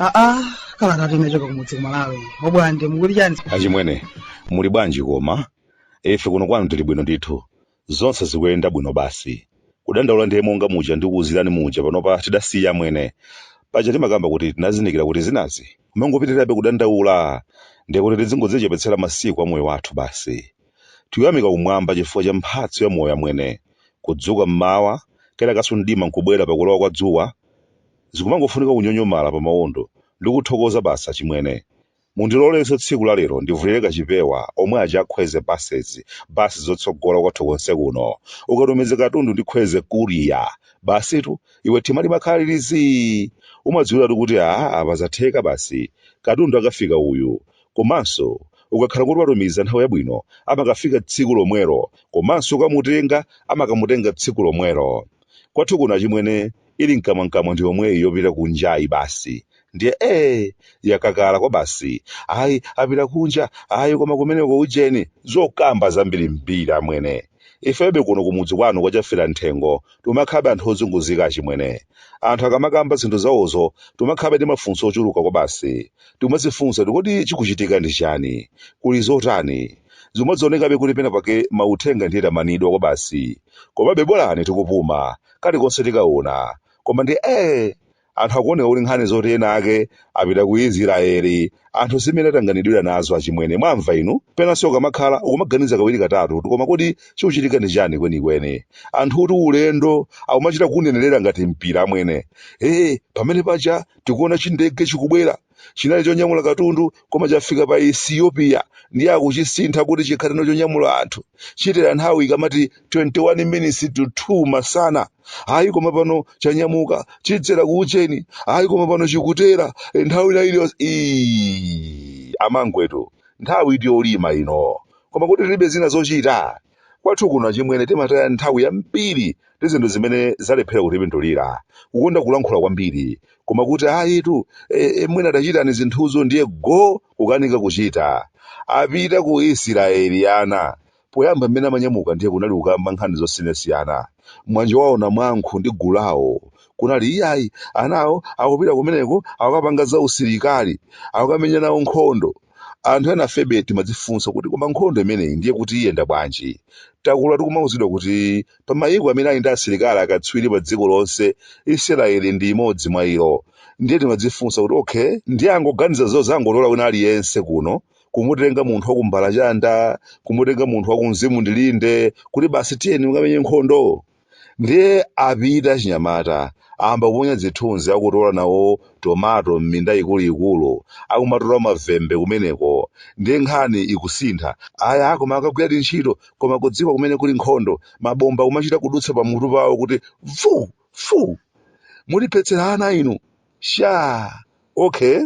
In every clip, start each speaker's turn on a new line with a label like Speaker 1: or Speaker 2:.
Speaker 1: aa kalata imene yachoka kumudzi kumalawi Mobwande mukuti chani achimwene
Speaker 2: muli bwanji koma ife kuno kwanu tili bwino ndithu Zonse zikuyenda bwino basi. Kudandaula ndiye monga muja ndikuuzirani muja panopa tidasiya amwene. Paja timakamba kuti tinazindikira kuti zinazi kumangopitirirabe kudandaula ndiye kuti tidzingodzichepetsera masiku a moyo wathu basi. Tikuyamika kumwamba chifukwa cha mphatso ya moyo amwene. Kudzuka m'mawa, kenakanso mdima nkubwera pakulowa kwa dzuwa, zikumangofunika kunyonyomala pamawondo ndikuthokoza basi achimwene. Mundilolenso tsiku la lero ndivulire kachipewa omwe aja a Kwezy buses, basi zotsogola kwathu konse kuno. Ukatumiza katundu ndi Kwezy courier. Basitu, iwe tima limakhala lili zii! Umadziwiratu kuti aah apa zatheka basi. Katundu akafika uyu. Komanso, ukakhala kuti watumiza nthawi yabwino amakafika tsiku lomwelo komanso ukamutenga amakamutenga tsiku lomwelo. Kwathu kuno achimwene ili mkamwamkamwa ndi yomweyi yopita kunjayi basi ndiye ee yakakala kwabasi ayi apita kunja ayi koma kumeneko ujeni zokamba zambirimbiri amwene ifebe kuno kumudzi kwanu kwa Chafera Mthengo tumakhabe anthu ozunguzika achimwene anthu akamakamba zinthu zawozo tumakhabe ndi mafunso ochuluka kwabasi timadzifunsa kuti kodi chikuchitika ndi chani kuli zotani zimadzionekabe kuti pena pake mauthenga ndiye tamanidwa kwabasi komabe bolani tikupuma kalikonse tikaona koma ndiye anthu akuoneka kuti nkhani zoti anaake apita ku israeli anthu si mmene atanganidwira nazo achimwene mwamva inu penanso kumakhala nkumaganiza kawiri katatu kuti koma kodi chikuchitika ndi chani kwenikweni anthu kuti ulendo akumachita kunenerera ngati mpira amwene ee pamene paja tikuona chindege chikubwera Chinali chonyamula katundu koma chafika pa Ethiopia ndiye akuchisintha kuti chikhale tsono chonyamula anthu. Chitera nthawi ikamati 21 minutes to 2 masana. Ayi koma pano chanyamuka chidzera ku Ujeni. Ayi koma pano chikutera eh, nthawi ina iliyonse. Ii, amangwetu nthawi ndi yolima ino. Koma kodi tilibe zina zochita? Kwathu kuno achimwene timataya nthawi yambiri ndi zinthu zimene zalephera kutipindulira, kukonda kulankhula kwambiri, koma kuti ayitu e, e, mwina tachitani zinthuzo ndiye go kukanika kuchita. Apita ku Isiraeli ana. Poyamba mmene amanyamuka ndiye kunali kukamba nkhani zosiyanasiyana. Manje wawo Namwankho ndi gulu lawo kunali iyayi anawo akupita kumeneko akukapanga zausilikali, akukamenya nawo nkhondo. Anthu enafebe timadzifunsa kuti koma nkhondo imeneyi ndiye kuti iyenda bwanji? Takula tikumauzidwa kuti pa mayiko amene ali ndi asilikali akatswiri padziko lonse, Isiraeli ndi imodzi mwa iwo. Ndiye timadzifunsa kuti okay, ndiye angoganiza zodzangotola wina aliyense kuno, kumutenga munthu wa ku Mbalachanda, kumutenga munthu wa ku Mzimundilinde kuti basi tiyeni mukamenye nkhondo? Ndiye apita achinyamata, ayamba kuponya zithunzi akutola nawo tomato m'minda ikuluikulu, akumatola mavembe kumeneko. Ndiye nkhani ikusintha, ayi a koma akagwiradi ntchito, koma kudziko kumene kuli nkhondo, mabomba akumachita kudutsa pamutu pawo kuti vuu! vuu! Mutiphetsera ana inu! Shaa! Okay,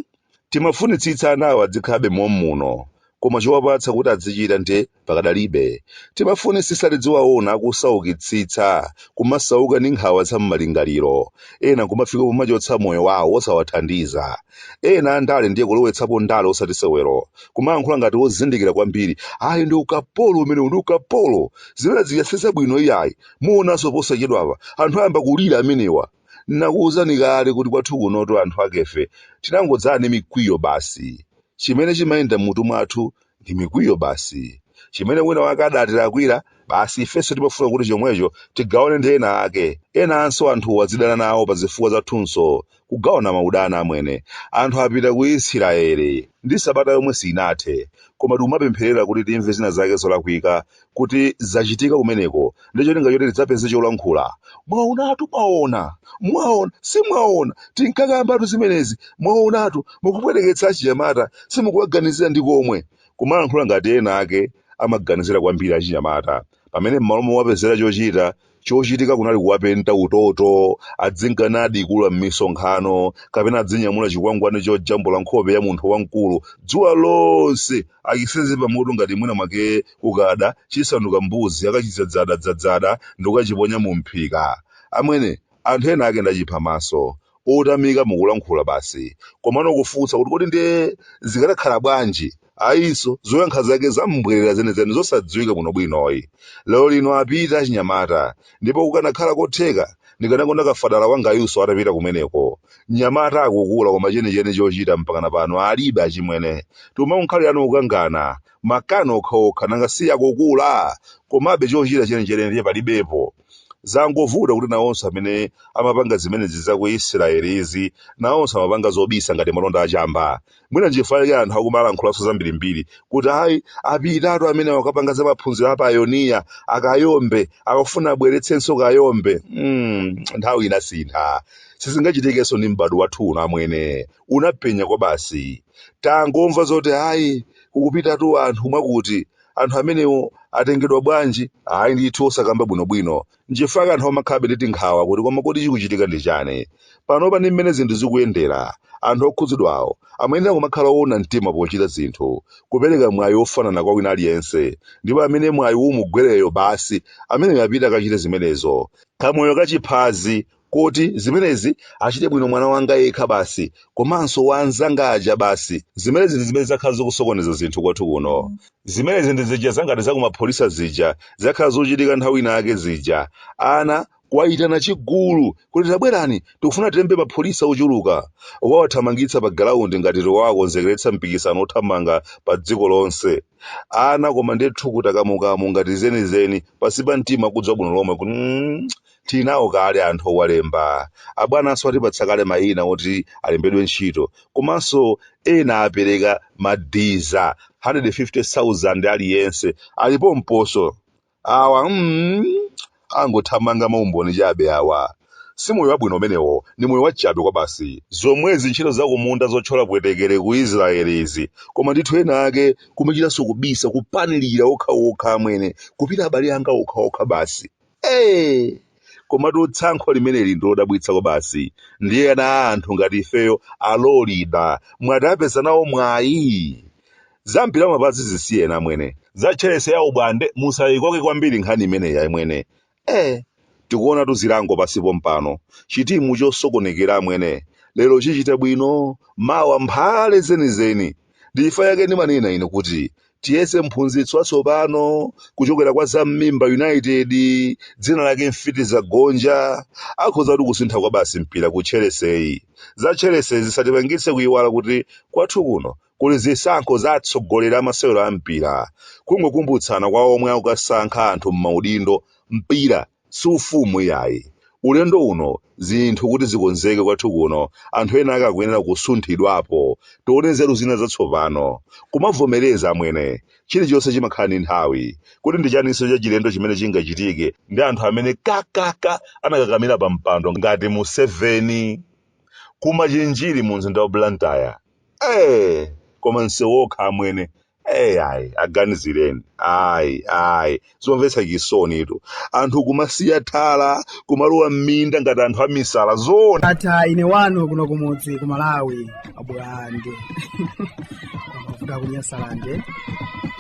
Speaker 2: timafunitsitsa anawa adzikhalabe mom'muno koma chowapatsa kuti adzichita nde pakadalibe. Timafunisitsa tidziwaona akusaukitsitsa, kumasauka ndi nkhawa za m'malingaliro, ena kumafika pomachotsa moyo wawo osawathandiza. Ena andale ndiye kulowetsapo ndale osati sewero, kumayankhula ngati ozindikira kwambiri, ayi ndi ukapolo umenewu ndi ukapolo! Zina izi sizitha bwino iyayi, muonanso posachedwapa, anthu ayamba kulira amenewa. Nakuwuzani kale kuti kwathu kunotu anthu akefe tinangodzala ndi mikwiyo basi. Chimene chimayenda m'mutu mwathu ndi mikwiyo basi. Chimene wina wake adatilakwira, basi ifenso timafuna kuti chomwecho tigawane ndi ena ake. Enanso anthuwo adzidana nawo pa zifukwa zathunso. Kugawana maudani amwene. Anthu apita ku Isiraeli ndi sabata yomwe sinathe. Koma tikumapempherera kuti timve zina zake zolakwika kuti zachitika kumeneko ndi cholinga choti tidzapeze cholankhula. Mwaonatu, mwaona, mwaona, si mwaona, tinkakambatu zimenezi, mwaonatu, mukupweteketsa achinyamata, simukuwaganizira ndi komwe. Kumalankhula ngati ena ake amaganizira kwambiri achinyamata, pamene m'malo mowapezera chochita, Chochitika kunali kuwapenta utoto, adzinka nadikula m'misonkhano, kapena adzinyamula chikwangwani chojambula nkhope ya munthu wamkulu dzuwa lonse achisenze pamutu ngati mwina mwake kukada chisanduka mbuzi akachidzadzadadzadzada ndi kukachiponya mu mphika. Amwene, anthu ena ake ndachipha maso. Otamika mukulankhula basi. Komano kufunsa kuti kodi ndiye zikanakhala bwanji ayinso zoyankha zake zam'mbwerera zenizeni zosadziwika bwinobwinoyi lero lino apita achinyamata ndipo kukanakhala kotheka ndikanakonda kafadala wangayunso atapita kumeneko mnyamata akukula koma chenicheni chochita mpakana pano alibe achimwene timangokhalirano kukangana makani okhaokha nanga si akukula komabe chochita chenicheni ndiye palibepo zangovuta kuti nawonso amene amapanga zimenezi za ku israeli izi nawonso amapanga zobisa ngati malonda achamba mwina nchifukwa chake anthu akumalankhulaso zambirimbiri kuti ayi apitatu amene akapanga za maphunziro a payoniya a Kayombe akufuna abweretsenso Kayombe mm, nthawi inasintha sizingachitikenso ndi m'bado wathu uno amwene unapenya kwabasi tangomva zoti ayi kukupitatu anthu mwakuti anthu amenewo atengedwa bwanji ayi ndithu osakamba bwinobwino Nchifukwa chake anthu amakhalabe ndi tinkhawa kuti koma kodi chikuchitika ndi chani? Panopa ndi mmene zinthu zikuyendera, anthu okhudzidwawo amayenera kumakhala oona mtima pochita zinthu, kupereka mwayi wofanana kwa wina aliyense, ndipo amene mwayiwu umugwereyo basi ameneyo apite akachite zimenezo. Kamoyo ka chiphazi, koti zimenezi achite bwino mwana wanga yekha basi komanso wa anzanga aja basi zimenezi ndi zimene zakhala zikusokoneza zinthu kwathu kuno zimenezi ndi zija zangati zakumapholisa zija zakhala zochitika nthawi ina yake zija ana kuwayitana chigulu kuti tabwerani tikufuna tilembe mapholisa ochuluka nkumawathamangitsa pa galaundi ngati tiwawakonzekeretsa mpikisano wothamanga pa dziko lonse ana koma ndithu kutakamukamu ngati zenizeni pansi pa mtima akudziwa bwino lomwe kuti mm, Tili nawo kale anthu owalemba. Abwananso atipatsa kale mayina oti alembedwe ntchito. Komanso ena apereka madiza 150,000 aliyense. Ali pompo. Awa mm, angothamanga maumboni chabe awa. Si moyo wabwino umenewo, ndi moyo wachabe kwabasi. Zomwezi ntchito za kumunda zothyola pwetekere ku Israel izi, koma ndithu ena ake kumachitanso kubisa, kupanilira okhaokha amwene, kupita abale anga okhaokha basi. Eee! Komatu tsankho limeneli ndilodabwitsa kwabasi. Ndiye ana a anthu ngati ifeyo alolida mwati apeza nawo mwayi? Za mpira wa mapazi zisiyeni amwene. Za Chelsea ya ubwande musayikoke kwambiri nkhani imeneyi amwene. Eee! Tikuonatu zilango pansi pompano. Chitimu chosokonekera amwene. Lero chichita bwino, mawa mphale zenizeni. ndi chifukwa chake ndimanena ine kuti tiyese mphunzitsi watsopano kuchokera kwa Zam'mimba United dzina lake Mfitizagonja akhoza kutukusintha kwabasi mpira ku Chelsea-yi za Chelsea-yi zisatipangitse kuyiwala kuti kwathu kuno kuli zisankho za atsogoleri a masewero a mpira kungokumbutsana kwa omwe akukasankha anthu m'maudindo mpira si ufumu iyayi. Ulendo uno zinthu kuti zikonzeke kwathu kuno anthu ena ake akuyenera kusunthidwapo. Tione nzeru zina zatsopano. Kumavomereza amwene. Chilichonse chimakhala ndi nthawi. Kodi ndi chaninso chachilendo chimene chingachitike ndi anthu amene kakaka anakakamira pampando ngati Museveni? Ku Machinjiri mumzinda wa Blantyre. eh koma msewu okha amwene eh ayi aganizireni ayi ayi zomvetsa chisonitu anthu kumasiya thala kumalowa m'minda ngati anthu amisala zoona ndatha ine
Speaker 1: wanu kuno kumudzi ku malawi abulande wakuda ku nyasalande